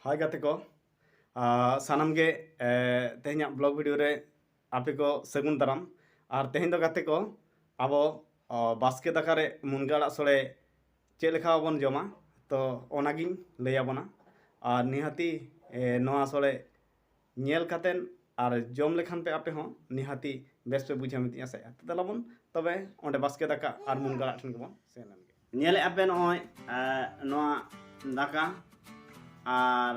ᱦᱟᱭ ᱜᱟᱛᱮ ᱠᱚ ᱥᱟᱱᱟᱢ ᱜᱮ ᱛᱮᱦᱮᱧᱟᱜ ᱵᱞᱚᱜ ᱵᱷᱤᱰᱤᱭᱳ ᱨᱮ ᱟᱯᱮ ᱠᱚ ᱥᱟᱹᱜᱩᱱ ᱫᱟᱨᱟᱢ ᱟᱨ ᱛᱮᱦᱮᱧ ᱫᱚ ᱜᱟᱛᱮ ᱠᱚ ᱟᱵᱚ ᱵᱟᱥᱠᱮ ᱫᱟᱠᱟ ᱨᱮ ᱢᱩᱱᱜᱟᱹ ᱟᱲᱟᱜ ᱥᱚᱲᱮ ᱪᱮᱫ ᱞᱮᱠᱟ ᱵᱚᱱ ᱡᱚᱢᱟ ᱛᱚ ᱚᱱᱟᱜᱤᱧ ᱞᱟᱹᱭ ᱟᱵᱚᱱᱟ ᱟᱨ ᱱᱤᱦᱟᱹᱛᱤ ᱱᱚᱣᱟ ᱥᱚᱲᱮ ᱧᱮᱞ ᱠᱟᱛᱮᱫ ᱟᱨ ᱡᱚᱢ ᱞᱮᱠᱷᱟᱱ ᱯᱮ ᱟᱯᱮ ᱦᱚᱸ ᱱᱤᱦᱟᱹᱛᱤ ᱵᱮᱥ ᱯᱮ ᱵᱩᱡᱷᱟᱹᱣᱟ ᱢᱮᱱᱛᱮᱧ ᱟᱥᱟᱭᱮᱜᱼᱟ ᱛᱚ ᱫᱮᱞᱟ ᱵᱚᱱ ᱛᱚᱵᱮ ᱚᱸᱰᱮ ᱵᱟᱥᱠᱮ ᱫᱟᱠᱟ ᱟᱨ ᱢᱩᱱᱜᱟᱹ ᱟᱲᱟᱜ ᱴᱷᱮᱱ ᱜᱮᱵᱚᱱ ᱥᱮᱱ ᱞᱮᱱ ᱜᱮ ᱧᱮᱞᱮᱫ ᱟᱯᱮ ᱱᱚᱜᱼᱚᱭ ᱱᱚᱣᱟ ᱫᱟᱠᱟ ᱟᱨ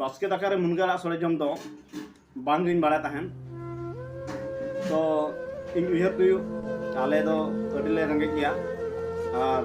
ᱵᱟᱥᱠᱮ ᱫᱟᱠᱟ ᱨᱮ ᱢᱩᱱᱜᱟᱹ ᱟᱲᱟᱜ ᱥᱚᱲᱮ ᱡᱚᱢ ᱫᱚ ᱵᱟᱝᱜᱤᱧ ᱵᱟᱲᱟᱭ ᱛᱟᱦᱮᱱ ᱛᱚ ᱤᱧ ᱩᱭᱦᱟᱹᱨ ᱦᱩᱭᱩᱜ ᱟᱞᱮ ᱫᱚ ᱟᱹᱰᱤᱞᱮ ᱨᱮᱸᱜᱮᱡ ᱜᱮᱭᱟ ᱟᱨ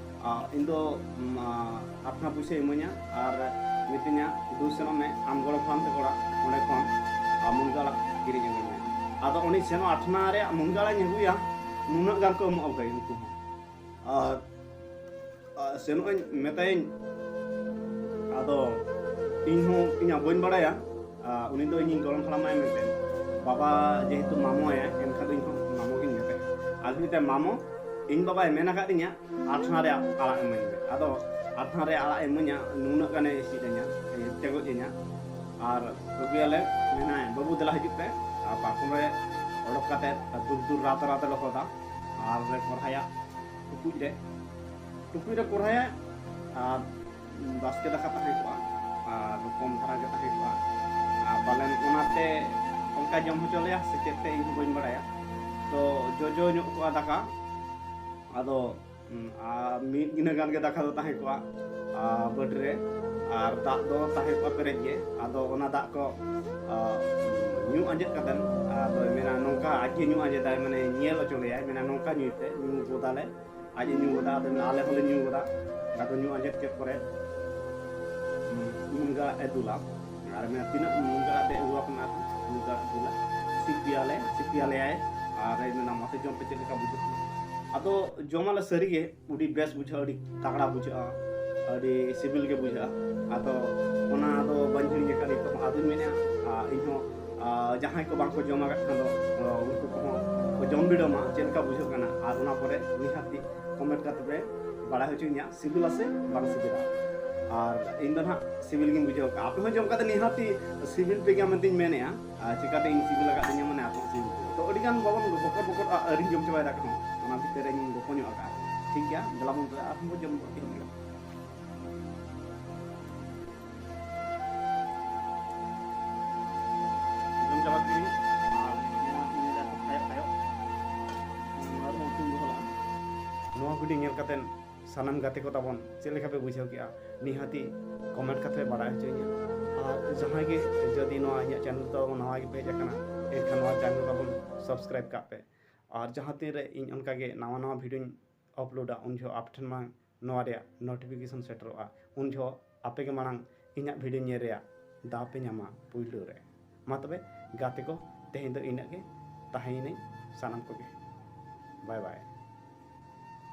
ᱤᱧ ᱫᱚ ᱟᱴᱷᱱᱟ ᱯᱩᱭᱥᱟᱹ ᱤᱢᱟᱹᱧᱟ ᱟᱨ ᱢᱤᱛᱟᱹᱧᱟ ᱫᱩ ᱥᱮᱱᱚᱜ ᱢᱮ ᱟᱢ ᱜᱚᱲᱚ ᱯᱷᱟᱨᱢ ᱛᱮ ᱚᱲᱟᱜ ᱚᱸᱰᱮ ᱠᱷᱚᱱ ᱢᱩᱱᱜᱟᱹ ᱟᱲᱟᱜ ᱠᱤᱨᱤᱧ ᱟᱹᱜᱩᱭ ᱢᱮ ᱟᱫᱚ ᱩᱱᱤ ᱥᱮᱱᱚᱜ ᱟᱴᱷᱱᱟ ᱨᱮᱭᱟᱜ ᱢᱩᱱᱜᱟᱹ ᱟᱲᱟᱜ ᱤᱧ ᱟᱹᱜᱩᱭᱟ ᱱᱩᱱᱟᱹᱜ ᱜᱟᱱ ᱠᱚ ᱮᱢᱚᱜᱼᱟ ᱵᱷᱟᱹᱭ ᱩᱱᱠᱩ ᱦᱚᱸ ᱟᱨ ᱥᱮᱱᱚᱜ ᱟᱹᱧ ᱢᱮᱛᱟᱭᱟᱹᱧ ᱟᱫᱚ ᱤᱧ ᱦᱚᱸ ᱤᱧᱟᱹᱜ ᱵᱟᱹᱧ ᱵᱟᱲᱟᱭᱟ ᱩᱱᱤ ᱫᱚ ᱤᱧᱤᱧ ᱜᱚᱲᱚᱢ ᱦᱟᱲᱟᱢᱟᱭ ᱢᱮᱱᱛᱮ ᱵᱟᱵᱟ ᱡᱮᱦᱮᱛᱩ ᱢᱟᱢᱚᱭᱟ ᱮᱱᱠᱷᱟᱱ ᱫᱚ ᱤᱧ ᱦᱚᱸ ᱢᱟᱢᱚ ᱜᱤᱧ ᱢᱮᱛᱟᱭᱟ ᱟᱫᱚ ᱢᱮᱛᱟᱭ ᱢᱟᱢᱚ ᱤᱧ ᱵᱟᱵᱟᱭ ᱢᱮᱱ ᱟᱠᱟᱫ ᱛᱤᱧᱟ ᱟᱴᱷᱱᱟ ᱨᱮ ᱟᱲᱟᱜ ᱤᱢᱟᱹᱧ ᱢᱮ ᱟᱫᱚ ᱟᱴᱷᱱᱟ ᱨᱮ ᱟᱲᱟᱜ ᱤᱢᱟᱹᱧᱟ ᱱᱩᱱᱟᱹᱜ ᱜᱟᱱᱮ ᱤᱥᱤᱫ ᱤᱧᱟ ᱛᱮᱜᱚᱡ ᱤᱧᱟ ᱟᱨ ᱟᱹᱜᱩᱭᱟᱞᱮ ᱢᱮᱱᱟᱭ ᱵᱟᱹᱵᱩ ᱫᱮᱞᱟ ᱦᱤᱡᱩᱜ ᱯᱮ ᱟᱨ ᱯᱟᱨᱠᱚᱢ ᱨᱮ ᱚᱰᱚᱠ ᱠᱟᱛᱮ ᱫᱩᱞ ᱫᱩᱞ ᱨᱟᱛ ᱨᱟᱛ ᱞᱮ ᱦᱚᱫᱟ ᱟᱨ ᱞᱮ ᱠᱚᱨᱦᱟᱭᱟ ᱴᱩᱠᱩᱡ ᱨᱮ ᱴᱩᱠᱩᱡ ᱨᱮ ᱠᱚᱨᱦᱟᱭᱟ ᱟᱨ ᱵᱟᱥᱠᱮ ᱫᱟᱠᱟ ᱛᱟᱦᱮᱸ ᱠᱚᱜᱼᱟ ᱟᱨ ᱠᱚᱢ ᱫᱷᱟᱨᱟ ᱜᱮ ᱛᱟᱦᱮᱸ ᱠᱚᱜᱼᱟ ᱟᱨ ᱯᱟᱞᱮᱱ ᱚᱱᱟᱛᱮ ᱚᱱᱠᱟ ᱡᱚᱢ ᱦᱚᱪᱚ ᱞᱮᱭᱟ ᱥᱮ ᱪᱮᱫ ᱛᱮ ᱤᱧ ᱦᱚᱸ ᱵᱟᱹᱧ ᱵᱟᱲᱟᱭᱟ ᱛᱚ ᱡᱚᱡᱚ ᱧᱚᱜ ᱠᱚᱜᱼᱟ ᱫᱟᱠᱟ ᱟᱫᱚ ᱟᱨ ᱢᱤᱫ ᱜᱤᱱᱟᱹ ᱜᱟᱱ ᱜᱮ ᱫᱟᱠᱟ ᱫᱚ ᱛᱟᱦᱮᱸ ᱠᱚᱜᱼᱟ ᱵᱟᱹᱴ ᱨᱮ ᱟᱨ ᱫᱟᱜ ᱫᱚ ᱛᱟᱦᱮᱸ ᱠᱚᱜᱼᱟ ᱯᱮᱨᱮᱡ ᱜᱮ ᱟᱫᱚ ᱚᱱᱟ ᱫᱟᱜ ᱠᱚ ᱧᱩ ᱟᱸᱡᱮᱫ ᱠᱟᱛᱮᱱ ᱟᱫᱚᱭ ᱢᱮᱱᱟ ᱱᱚᱝᱠᱟ ᱟᱡ ᱜᱮ ᱧᱩ ᱟᱸᱡᱮᱫᱟᱭ ᱢᱟᱱᱮ ᱧᱮᱞ ᱦᱚᱪᱚ ᱞᱮᱭᱟᱭ ᱢᱮᱱᱟ ᱱᱚᱝᱠᱟ ᱧᱩᱭ ᱯᱮ ᱧᱩ ᱜᱚᱫᱟᱞᱮ ᱟᱡ ᱮ ᱧᱩ ᱠᱮᱫᱟ ᱟᱫᱚ ᱟᱞᱮ ᱦᱚᱸᱞᱮ ᱧᱩ ᱠᱮᱫᱟ ᱟᱫᱚ ᱧᱩ ᱟᱸᱡᱮᱫ ᱠᱮᱫ ᱯᱚᱨᱮ ᱢᱩᱱᱜᱟ ᱮ ᱫᱩᱞᱟ ᱟᱨ ᱢᱮᱱᱟ ᱛᱤᱱᱟᱹᱜ ᱢᱩᱱᱜᱟ ᱟᱛᱮ ᱟᱹᱜᱩ ᱟᱠᱟᱱᱟ ᱢᱩᱱᱜᱟ ᱫᱩᱞᱟ ᱥᱤᱯᱤᱭᱟᱞᱮ ᱥᱤᱯᱤᱭᱟᱞᱮᱭᱟᱭ ᱟᱨ ᱢᱮᱱᱟ ᱢᱟᱥᱮ ᱡᱚᱢ ᱯᱮ ᱪᱮᱫ ᱞᱮᱠᱟ ᱵᱩᱡᱷᱟᱹᱜ ᱠᱟᱱᱟ ᱟᱫᱚ ᱡᱚᱢᱟᱞᱮ ᱥᱟᱹᱨᱤᱜᱮ ᱟᱹᱰᱤ ᱵᱮᱥ ᱵᱩᱡᱷᱟᱹᱜᱼᱟ ᱟᱹᱰᱤ ᱛᱟᱜᱲᱟ ᱵᱩᱡᱷᱟᱹᱜᱼᱟ ᱟᱹᱰᱤ ᱥᱤᱵᱤᱞ ᱜᱮ ᱵᱩᱡᱷᱟᱹᱜᱼᱟ ᱟᱫᱚ ᱚᱱᱟ ᱫᱚ ᱵᱟᱹᱧ ᱦᱤᱲᱤᱧ ᱟᱠᱟᱫ ᱱᱤᱛᱚᱜ ᱟᱫᱚᱧ ᱢᱮᱱᱮᱫᱼᱟ ᱤᱧᱦᱚᱸ ᱡᱟᱦᱟᱸᱭ ᱠᱚ ᱵᱟᱝᱠᱚ ᱡᱚᱢ ᱟᱠᱟᱫ ᱠᱷᱟᱱ ᱫᱚ ᱩᱱᱠᱩ ᱠᱚᱦᱚᱸ ᱠᱚ ᱡᱚᱢ ᱵᱤᱰᱟᱹᱣ ᱢᱟ ᱪᱮᱫ ᱞᱮᱠᱟ ᱵᱩᱡᱷᱟᱹᱜ ᱠᱟᱱᱟ ᱟᱨ ᱚᱱᱟ ᱯᱚᱨᱮ ᱱᱤᱦᱟᱹᱛᱤ ᱠᱚᱢᱮᱱᱴ ᱠᱟᱛᱮ ᱯᱮ ᱵᱟᱲᱟᱭ ᱦᱚᱪᱚᱧᱟ ᱥᱤᱵᱤᱞᱟ ᱥᱮ ᱵᱟᱝ ᱥᱤᱵᱤᱞᱟ ᱟᱨ ᱤᱧ ᱫᱚ ᱱᱟᱦᱟᱜ ᱥᱤᱵᱤᱞ ᱜᱤᱧ ᱵᱩᱡᱷᱟᱹᱣ ᱠᱟᱜᱼᱟ ᱟᱯᱮ ᱦᱚᱸ ᱡᱚᱢ ᱠᱟᱛᱮ ᱱᱤᱦᱟᱹᱛᱤ ᱥᱤᱵᱤᱞ ᱯᱮ ᱜᱮᱭᱟ ᱢᱮᱱᱛᱮᱧ ᱢᱮᱱᱮᱜᱼᱟ ᱟᱨ ᱪᱤᱠᱟᱹᱛᱮ ᱤᱧ ᱥᱤᱵᱤᱞ ᱟᱠᱟᱫ ᱛᱤᱧᱟ ᱢᱟᱱᱮ ᱟᱯᱮ ᱥᱤᱵᱤᱞ ᱛᱚ ᱟᱹᱰᱤ ᱜᱟᱱ ᱵᱟᱵᱚᱱ ᱵᱚᱠᱚᱨ ᱵᱚᱠᱚᱨ ᱟᱹᱨᱤᱧ ᱡᱚᱢ ᱪᱟᱵᱟᱭ ᱫᱟᱠᱟ ᱦᱚᱸ ᱚᱱᱟ ᱵᱷᱤᱛᱤᱨ ᱨᱮᱧ ᱜᱚᱯᱚ ᱧᱚᱜ ᱟᱠᱟᱫᱼᱟ ᱴᱷᱤᱠ ᱜᱮᱭᱟ ᱫᱮᱞᱟ ᱵᱚᱱ ᱟᱨᱦᱚᱸ ᱵᱚᱱ ᱡᱚᱢ ᱜᱚᱫ ᱠᱮᱫ ᱜᱮ ᱱᱚᱣᱟ ᱵᱷᱤᱰᱤᱭᱳ ᱧᱮᱞ ᱠᱟᱛᱮ ᱥᱟᱱᱟᱢ ᱜᱟᱛᱮ ᱠᱚ ᱛᱟᱵᱚᱱ ᱪᱮᱫ ᱞᱮᱠᱟ ᱯᱮ ᱵᱩᱡᱷᱟᱹᱣ ᱠᱮᱜᱼᱟ ᱱᱤᱦᱟᱹᱛᱤ ᱠᱚᱢᱮᱱᱴ ᱠᱟᱛᱮ ᱵᱟᱲᱟᱭ ᱦᱚᱪᱚᱧᱟ ᱟᱨ ᱡᱟᱦᱟᱸᱭ ᱜᱮ ᱡᱩᱫᱤ ᱱᱚᱣᱟ ᱤᱧᱟᱹᱜ ᱪᱮᱱᱮᱞ ᱫᱚ ᱱᱟᱣᱟ ᱜᱮᱯᱮ ᱦᱮᱡ ᱟᱠᱟᱱᱟ ᱮᱱᱠᱷᱟᱱ ᱱᱚᱣᱟ ᱪᱮᱱᱮᱞ ᱛᱟᱵᱚᱱ ᱥᱟᱵᱥᱠᱨᱟᱭᱤᱵ ᱠᱟᱜ ᱯᱮ ᱟᱨ ᱡᱟᱦᱟᱸ ᱛᱤᱱᱨᱮ ᱤᱧ ᱚᱱᱠᱟᱜᱮ ᱱᱟᱣᱟ ᱱᱟᱣᱟ ᱵᱷᱤᱰᱤᱭᱳᱧ ᱟᱯᱞᱳᱰᱟ ᱩᱱ ᱡᱚᱦᱚᱜ ᱟᱯᱮ ᱴᱷᱮᱱ ᱢᱟᱲᱟᱝ ᱱᱚᱣᱟ ᱨᱮᱭᱟᱜ ᱱᱳᱴᱤᱯᱷᱤᱠᱮᱥᱚᱱ ᱥᱮᱴᱮᱨᱚᱜᱼᱟ ᱩᱱ ᱡᱚᱦᱚᱜ ᱟᱯᱮ ᱜᱮ ᱢᱟᱲᱟᱝ ᱤᱧᱟᱹᱜ ᱵᱷᱤᱰᱤᱭᱳ ᱧᱮᱞ ᱨᱮᱭᱟᱜ ᱫᱟᱣ ᱯᱮ ᱧᱟᱢᱟ ᱯᱩᱭᱞᱩ ᱨᱮ ᱢᱟ ᱛᱚᱵᱮ ᱜᱟᱛᱮ ᱠᱚ ᱛᱮᱦᱮᱧ ᱫᱚ ᱤᱱᱟᱹᱜ ᱜᱮ ᱛᱟᱦᱮᱸᱭᱮᱱᱟᱹᱧ ᱥᱟᱱᱟᱢ ᱠᱚᱜᱮ ᱵᱟᱭ ᱵᱟᱭ